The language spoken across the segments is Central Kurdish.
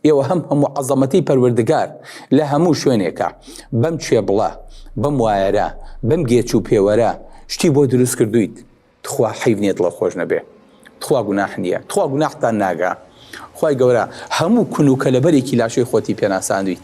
ئێوە هەم هەموو عەزەمەتی پەروەردگار لە هەموو شوێنێکە بەم چێبڵە بەم وایەرە بەم گێچ و پێوەرە شتی بۆ دروست کردویت تخوا حەیف نیە دڵە خۆش نەبێ تخوا گوناح نیە تخوا گوناحتان ناگا خوای گەورە هەموو کون و کەلەبەرێکی لاشەی خۆتی پێناساندویت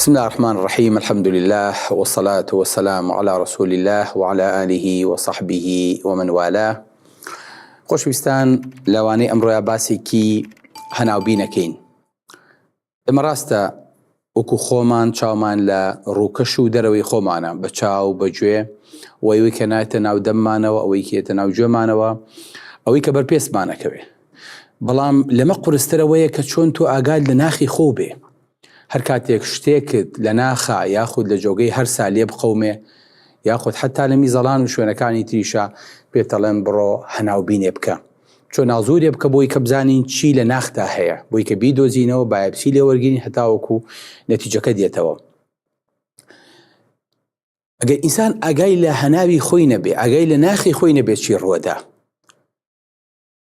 بسم اللە الرحمن الرحیم الحمد للە والصلاة والسلام علی رسول اللە وعلی آله وصحبه ومن والاه خۆشویستان لەوانەی ئەمڕۆیا باسێکی هەناوبینەکەین ئمە ڕاستە وەکو خۆمان چاومان لە ڕووکەش و دەرەوەی خۆمانە بە چاو بەگوێ وەیوی کە نایتە ناو دەممانەوە ئەوەی کێتە ناو گوێمانەوە ئەوەی کە بەر پێستمانەکەوێ بەڵام لەمە قورسترەوەیە کە چۆن تۆ ئاگاد لە ناخی خۆ بێ هەر کاتێک شتێکت لە ناخە یاخود لە جۆگەی هەرسا لێ بقەومێ یاخود حەتا لە میزەڵان و شوێنەکانی تریشا پێت ئەڵێم بڕۆ هەناو بینێ بکە چۆ ناوزورێ بکە بۆی کە بزانین چی لە ناختا هەیە بۆی کە بیدۆزینەوە بایەپسی لێ وەرگین هەتاوەکو نەتیجەکە دێتەوە ئەگەر ئینسان ئاگای لە هەناوی خۆی نەبێ ئاگای لە ناخی خۆی نەبێت چی ڕوەدا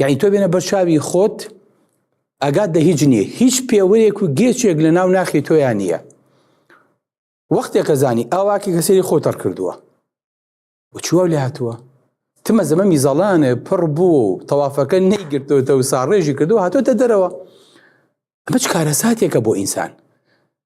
یعنی تۆ بێنە بەر چاوی خۆت ئەگات دە هیچ نییە هیچ پێوەیەک و گێچێک لە ناو ناخی تۆیان نییە وەختێکە زانی ئاواکی کە سری خۆتەڕ کردووە چوە لە هاتووە تمە زەمە میزەڵانە پڕ بوو و تەوافەکە نەیگرتوتە و ساڕێژی کردو هاتۆتە دەرەوە ئەمە چ کارەساتێکە بۆ ئینسان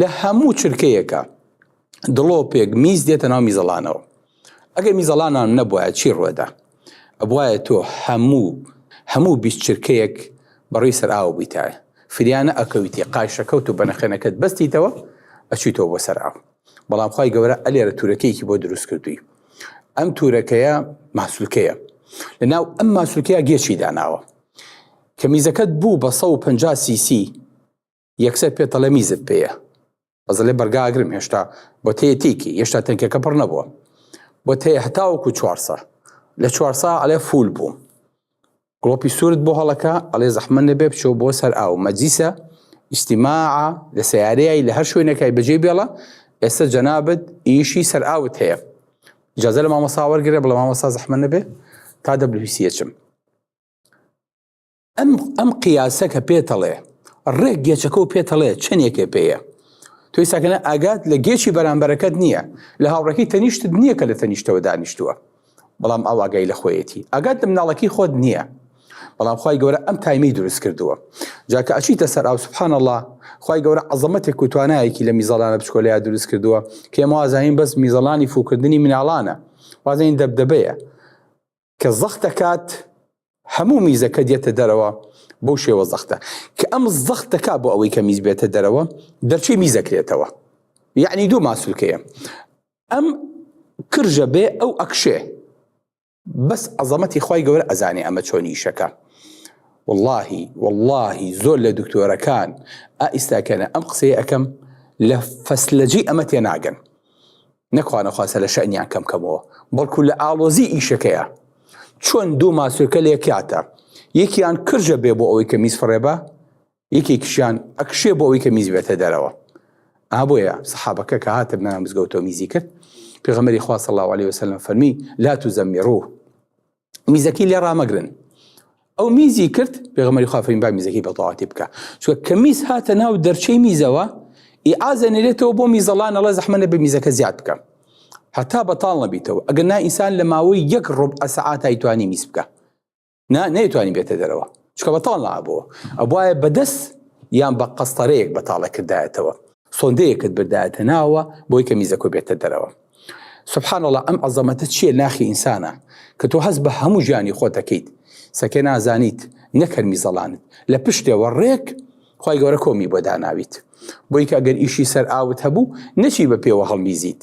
لە هەموو چرکەیەکە دڵۆپێک میز دێتە ناو میزەڵانەوە ئەگەر میزەڵانان نەبواە چی ڕوەدا ئەبواە تۆ هەموو هەموو بیست چرکەیەک بەڕی سەراوە بوویتایە فریانە ئەکەویتی قایشەکەوت و بەنەخێنەکەت بەستیتەوە ئەچیتەوە بۆ سەراو بەڵام خی گەورە ئەلێرە تورەکەیەکی بۆ دروست کردووی ئەم تورەکەیە ماسولکەیە لە ناو ئەم ماسولکەیە گێچی داناوە کە میزەکەت بوو بە 150 سیسی یەکسەر پێت دەڵێ میزت پێیە بەزلێ بەرگاگرم هێشتا بۆ تێ تێکی هێشتا تەنکەکە پڕ نەبووە بۆ تێ هەتاوەکو چوارسە لە چوارسا ئەلێ فول بووم گڵۆپی سوورت بۆ هەڵەکە ئەڵێ زەحمە نەبێ بچۆ بۆ سەر ئاو مەجیسە ئیسیما لە سیارەیە لە هەر شوێنەکەی بەجێ بێڵە ئێستا جەنابەت ئیشی سەر ئاوت هەیە جازە لە مامەساوەرگرە بڵە مامەسا زەحمە نەبێ تا دەبلویسیەچم ئەم ئەم قیاسە کە پێتەڵێ ڕێک گێچەکە و پێتەڵێ چەندێکێ پێەیە توی ساکەە ئاگات لە گێچی بەرامبەرەکەت نییە لە هاوڕێکی تەنیشتت نییە کە لە تەنیشتەوە دانیشتووە بەڵام ئاواگای لە خۆیەتی ئاگات لە مناڵەکەی خۆت نییە بەڵام خی گەورە ئەم تایمی دروست کردووە جاکە ئەچیتە سەر ئاو سبحان الله خی گەورە عزمەتێک و توانایەکی لە میزەڵانە بچکۆلەیە دروست کردووە کێمەوازانین بەس میزەڵانی فوکردنی مناڵانە وازین دەبدەبەیە کە زەخت دەکات هەموو میزەکە دێتە دەرەوە بەو شێوە زەختە کە ئەم زەخت دەکا بۆ ئەوەی کە میز بێتە دەرەوە دەرچی میزەکرێتەوە یعنی دوو ماسولکەیە ئەم کرژە بێ ئەو ئەکشێ بەس عەزەمەتی خی گەورە ئەزانێ ئەمە چۆنی شەکە واللهی واللهی زۆر لە دکتۆرەکان ئائیستاکەنە ئەم قسەیە ئەەکەم لە فەسلەجی ئەمە تێناگەن نەخوانەخواستە لە شەنیان کەم کەمەوە بەڵکو لە ئاڵۆزی ئیشەکەیە چۆن دوو ماسوێکە لێکاتە یەکیان کرژە بێ بۆ ئەوەی کە میز فڕێبە یەکێکیشیان ئەکشێ بۆ ئەوەی کە میز بێتە دەرەوە ئابۆیە سەحابەکە کە هاتە بنە مزگەوتەوە میزی کرد پێغەمەری خوا صلی الله عليه وسلم فەرمی لا تزمرو میزەکەی لێ ڕامەگرن ئەو میزی کرد پێغمەری خوافرین با میزەکەی بەتەواتی بکە چوە کە میز هاتە ناو دەرچەی میزەوە ئی ئازە نێرێتەوە بۆ میزەڵان ئەڵە زەحمەە بە میزەکە زیاد بکە هەتا بەتاڵ نەبیتەوە ئەگەر نا ئینسان لە ماوەی یەک ڕۆب ئەسەعاتای توانی میز بکە نا نەیتوانی بێتە دەرەوە چکە بەتاڵ نابەوە ئەبواە بەدەست یان بە قەستەرەیەک بەتاڵە کردایەتەوە سۆندەیەکت بردایەتە ناوە بۆی کە میزەکۆ بێتە دەرەوە سبحان الله ئەم عەزەمەتە چییە ناخی ئینسانە کە تۆ هەست بە هەموو ژیانی خۆ دەکەیت سەکێ نازانیت نەکەر میزەڵانت لە پشتێەوە ڕێک خی گەورە کۆمی بۆ داناویت بۆی کە گەر ئیشی سەر ئاوت هەبوو نەچی بە پێوە هەڵمیزیت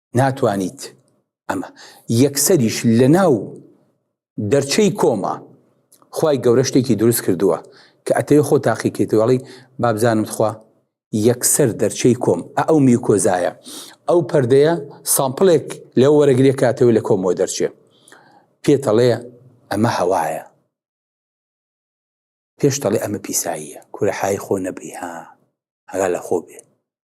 ناتوانیت ئەمە یەکسەریش لە ناو دەرچەی کۆما خی گەورە شتێکی دروست کردووە کە ئەتەوێ خۆ تاقیکەیتوەڵی بابزانم خوا یەکسەر دەرچەی کۆم ئەو میوکۆزایە ئەو پەردەیە سامپلێک لەو وەرەگرێک کاتەوە لە کۆمەوە دەرچێ پێتەڵێ ئەمە هەوایە پێشتەڵێ ئەمە پیساییە کورە حای خۆ نەبی ها هەرا لە خۆ بێ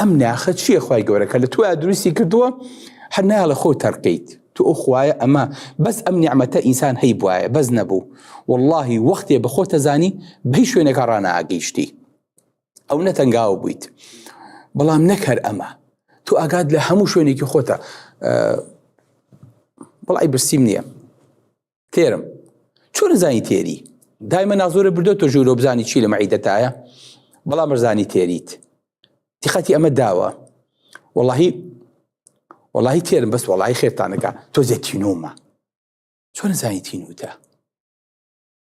ئەم ناخە چییە خی گەورە کە لە تۆ دروستی کردووە هەر ناڵە خۆ تەرقیت تو ئەو خوایە ئەمە بەس ئەم نیعممەتە ئینسان هەی بواە بەس نەبوو واللهی وەختێ بە خۆتە زانی بەی شوێنەکە ڕناگەیشتی ئەو نەتەنگاو بوویت بەڵام نەکەر ئەمە تو ئاگات لە هەموو شوێنێکی خۆتە بەڵی برسیم نییە تێرم چۆن زانی تێری دایمە نازۆرە بردو تۆ ژوورۆ بزانی چی لە مەعیدەتایە بەڵام بەرزانی تێریت تیخەتی ئەمە داوە وەڵی وەڵی تێرم بەس وەڵی خێتانەکە تۆ زێتینۆمە چۆن زانی تینوتە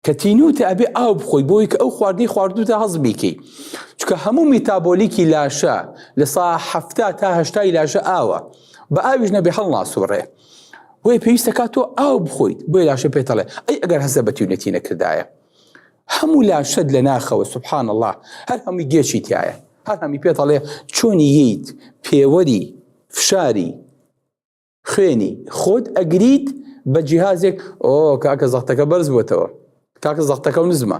کە تینوتە ئەبێ ئاو بخۆی بۆی کە ئەو خواردی خواردوتە هەز بیکەی چکە هەموو میتابۆلیکی لاشە لە سا هەفتا تاهشتای لاشە ئاوە بە ئاویش نەبێ هەڵناسوڕێ بۆیە پێویستە کا تۆ ئاو بخۆیت بۆی لاشە پێتەڵێ ئەی ئەگەر هەزە بە تیونەتی نەکردایە هەموو لاشەت لە ناخەوە سبحان الله هەر هەمووی گێچی تایە هەر هەمی پێتەڵێ چۆنی ییت پێوەری فشاری خوێنی خۆت ئەگریت بە جیهازێک ئۆ کاکە زەختەکە بەرز بووتەوە کاکە زەختەکە و نزمە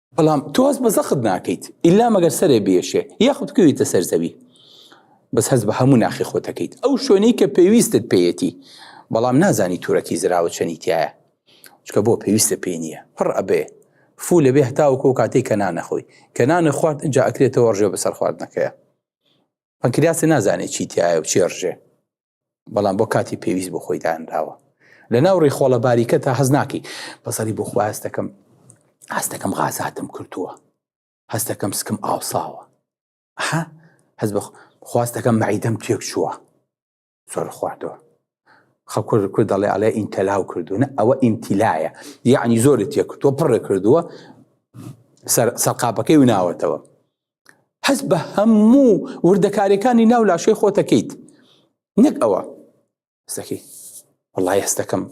بەڵام تۆز بە زەخت ناکەیت ئیلا مەگەر سەرێ بێشێ یاخود کوێیتە سەر زەوی بەس هەز بە هەموو ناخی خۆتەکەیت ئەو شوێنەی کە پێویستت پێیەتی بەڵام نازانی تورەکی زراوە چەنی تایە چکە بۆ پێویستە پێ نییە پڕ ئەبێ فو لەبێ هەتاوکۆ کاتێک کە نانەخۆی کە نانە خوارد جا ئەکرێتەوە ڕژێ بەسەر خواردنەکەیە پەنکریاسی نازانێت چی تایە و چێڕژێ بەڵام بۆ کاتی پێویست بۆ خۆی دانراوە لە ناو ڕیخۆڵە باریکە تا هەز ناکەی بەسەری بۆ خواز دەکەم هەست دەکەم غازاتم کردووە هەست دەکەم سکم ئاوساوە ها هەز بە خواست دەکەم مەعیدەم تێک چووە زۆر خواردەوە خەکر کرد دەڵێ ئەڵێ ئینتەلاو کردوونە ئەوە ئینتیلایە یعنی زۆری تێکردووە پڕێ کردووە سەرقاپەکەی و ناوەتەوە هەست بە هەموو وردەکارەکانی ناو لاشەی خۆتەکەیت نەک ئەوە سەکەی وڵی هەستەکەم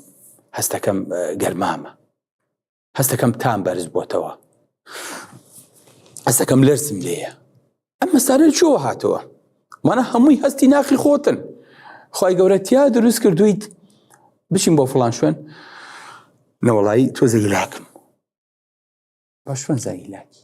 هەستەکەم گەرمامە هەستەکەم تام بەرز بۆتەوە هەستەکەم لەرسم لێیە ئەم مەسارە چۆوە هاتەوە مانە هەمووی هەستی ناخی خۆتن خی گەورەتیا دروست کردویت بچین بۆ فلان شوێن نەوەڵایی تۆزە لاکم باشوەن زای لاکی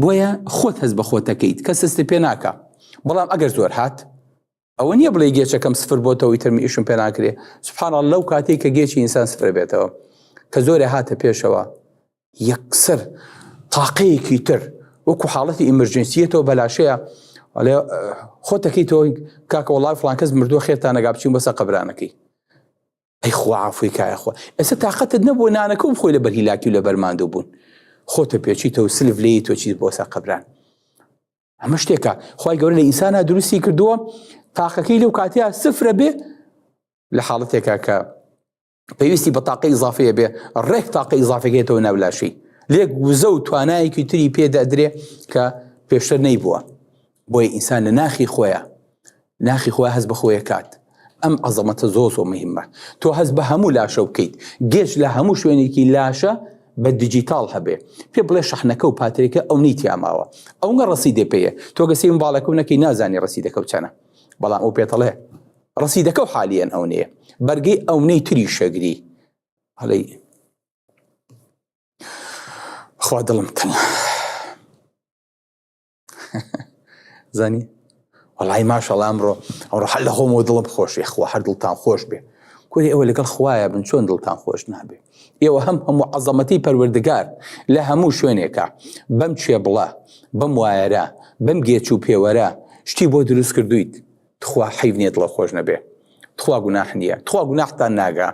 بۆیە خۆت هەست بە خۆتەکەیت کە سستی پێ ناکە بەڵام ئەگەر زۆر هات ئەوە نییە بڵێ گێچەکەم سفر بۆتەوەی ترمی ئیشم پێ ناکرێ سبحانە لەو کاتێک کە گێچی ئینسان سفر بێتەوە کە زۆرە هاتە پێشەوە یەکسەر تاقەیەکی تر وەکو حاڵەتی ئیمرجنسیەتەوە بەلاشەیە ئەڵێ خۆتەکەی تۆ کاکە وڵای فلانکەس مردووە خێتان نەگا بچین بەسە قەبرانەکەی ئەی خوا عەفوی کا یاخوا ئێستا تاقەتت نەبووە نانەکە و بخۆی لەبەر هیلاکی و لەبەر ماندوو بوون خۆتە پێچیتە و سلف لێی تۆ چیت بۆسە قەبران ئەمە شتێکە خی گەورە لە ئینسانە دروستی کردووە تاقەکەی لەو کاتیا سفرە بێ لە حاڵەتێکە کە پێویستی بە تاقی ئیزافەیە بێ ڕێک تاقی ئیزافەکەێتەوە ناولاشی لێک وزە و توانایەکی تری پێدەدرێ کە پێشتر نەی بووە بۆیە ئینسان لە ناخی خۆیە ناخی خۆی هەست بە خۆیە کات ئەم عەزەمەتە زۆ زۆ مهمە تۆ هەست بە هەموو لاشە بکەیت گەشت لە هەموو شوێنێکی لاشە بە دیجیتال هەبێ پێ بڵێ شەحنەکە و پاترێکە ئەو نەی تیاماوە ئەوگە ڕسی دێ پێەیە تۆ گە سیم باڵەکە نەکەی نازانی ڕسی دەکەوت چەنە بەڵام ئەو پێتەڵێ ڕسی دەکە و حالیان ئەو نەیە بەرگەی ئەو نەی تری شەگری هەڵی خوا دڵم تەنە زانی وڵی ماشەڵام ڕۆ ئەوڕۆ هەر لە خۆمەوە دڵم خۆش یخوا هەر دڵتان خۆش بێ کوری ئەوە لەگەڵ خوایە بن چۆن دڵتان خۆش نابێ ئێوە هەم هەموو عەزەمەتی پەروەردگار لە هەموو شوێنێکە بەم چێ بڵە بەم وایەرە بەم گێچ و پێوەرە شتی بۆ دروست کردویت تخوا حیف نیە دڵە خۆش نەبێ تخوا گوناح نییە تخوا گوناحتان ناگا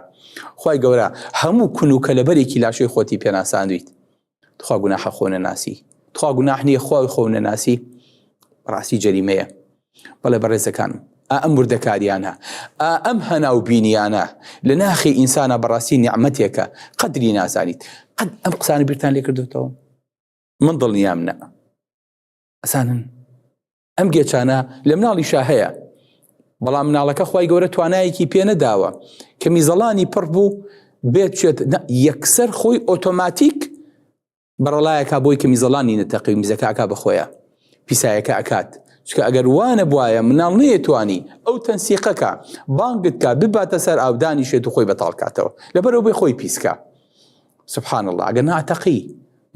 خی گەورە هەموو کون و کەلەبەرێکی لاشەی خۆتی پێناساندویت تخوا گوناحە خۆ نەناسی تخوا گوناح نییە خۆی خۆ نەناسی ڕاستی جەریمەیە بەڵێ بەڕێزەکانم ئەم وردەکاریانە ئەم هەناو بینیانە لە ناخی ئینسانە بەڕاستی نیعممەتێکە قدری نازانیت قەت ئەم قسانی بیرتان لێکردێتەوە من دڵنیام نە ئەسانن ئەم گێچانە لە مناڵی شا هەیە بەڵام مناڵەکە خی گەورە توانایەکی پێ نەداوە کە میزەڵانی پڕ بوو بێت چێت یەکسەر خۆی ئۆتۆماتیک بەڕەڵایەکە بۆی کە میزەڵانی نەتەقی میزەکەکە بەخۆیە پیسایەکە ئەکات چکە ئەگەر وانە بواە مناڵ نەیەتوانی ئەو تەنسیقەکە بانگت کا بباتە سەر ئاودانی شێت و خۆی بەتاڵکاتەوە لەبەرەوە بێ خۆی پیسکە سبحان الله ئەگەر ناتەقی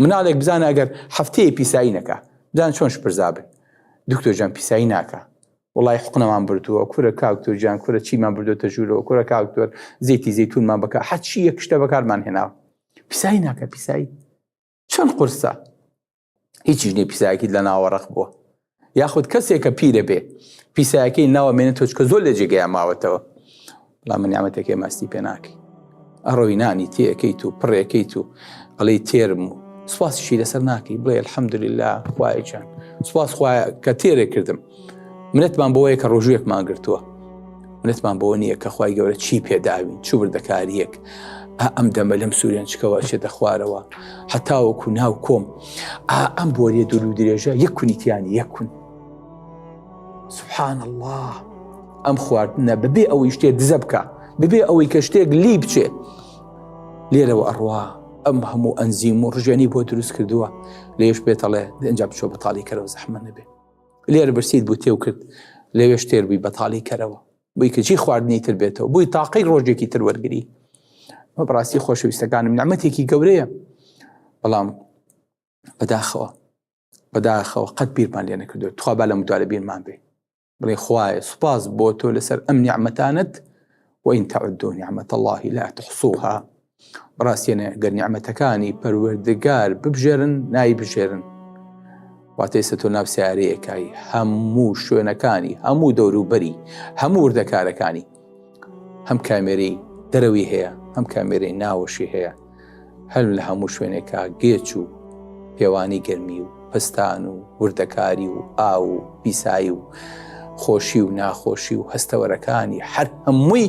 مناڵێک بزانە ئەگەر هەفتەیە پیسایی نەکا بزان چۆن شپرزا بن دکتۆر جان پیسایی ناکە وڵی حقنەمان بردووە کورە کاکتۆر جان کورە چیمان بردوتە ژوورەوە کورە کاکتۆر زیتی زیتونمان بکە حەچی یەک شتە بەکارمان هێناوە پیسایی ناکە پیسایی چەند قرسە هیچیش نیە پیسایەکیت لە ناوەڕق بووە یاخود کەسێک کە پیرە بێ پیسایەکەی ناوە مێنێت تۆچکە زۆر لە جێگەیە ماوەتەوە بەڵام من نیامەتەکەی ماستی پێ ناکەی ئەڕۆی نانی تێەکەیت و پڕێکەیت و ئەڵی تێرم و سوپاسیشی لەسەر ناکەی بڵێ الحەمدللا خوایچان سوپاس خوایە کە تێرێ کردم منەتمان بۆیە کە ڕۆژوێکمان گرتووە منەتمان بۆ نییە کە خی گەورە چی پێداوین چوو بردەکاریەک ئەم دەمە لەم سوورێن چکەوە شێتە خوارەوە هەتاوەکو ناو کۆم ئەم بۆریە دوور و درێژە یەک کونیتیان یەکون سبحان الله ئەم خواردنە ببێ ئەوەی شتێ دزە بکە ببێ ئەوەی کە شتێک لی بچێ لێرەوە ئەڕوا ئەم هەموو ئەنزیم و ڕژێنی بۆ دروست کردووە لێش پێتەڵێ دەنج بچۆ بەتاڵی کەرەوە زەحمە نەبێت لێر برسیت بوو تێو کرد لەوێش تێر بووی بەتاڵی کەرەوە بووی کە چی خواردنی تر بێتەوە بووی تاقی ڕۆژێکی تر وەرگری بە بڕاستی خۆشەویستەکانم نعممەتێکی گەورەیە بەڵام بەداخەوە بەداخەوە قەت بیرمان لێ نەکردو تخوا با لە مدوارە بیرمان بێ بڵێ خوایە سوپاس بۆ تۆ لەسەر ئەم نیعممەتانت وئین تەعدۆ نیعممەتە اللهی لا تحصوها بەڕاستیانە گەر نیعمەتەکانی پەروەردگار ببژێرن نای بژێرن واتەیسە تۆ ناو سیارەیەکای هەموو شوێنەکانی هەموو دەوروبەری هەموو وردەکارەکانی هەم کامێری دەرەوی هەیە هەم کامێری ناوەشی هەیە هەل لە هەموو شوێنێکا گێچ و پێوانی گەرمی و پستان و وردەکاری و ئاو و پیسایی و خۆشی و ناخۆشی و هەستەوەرەکانی هەر هەمووی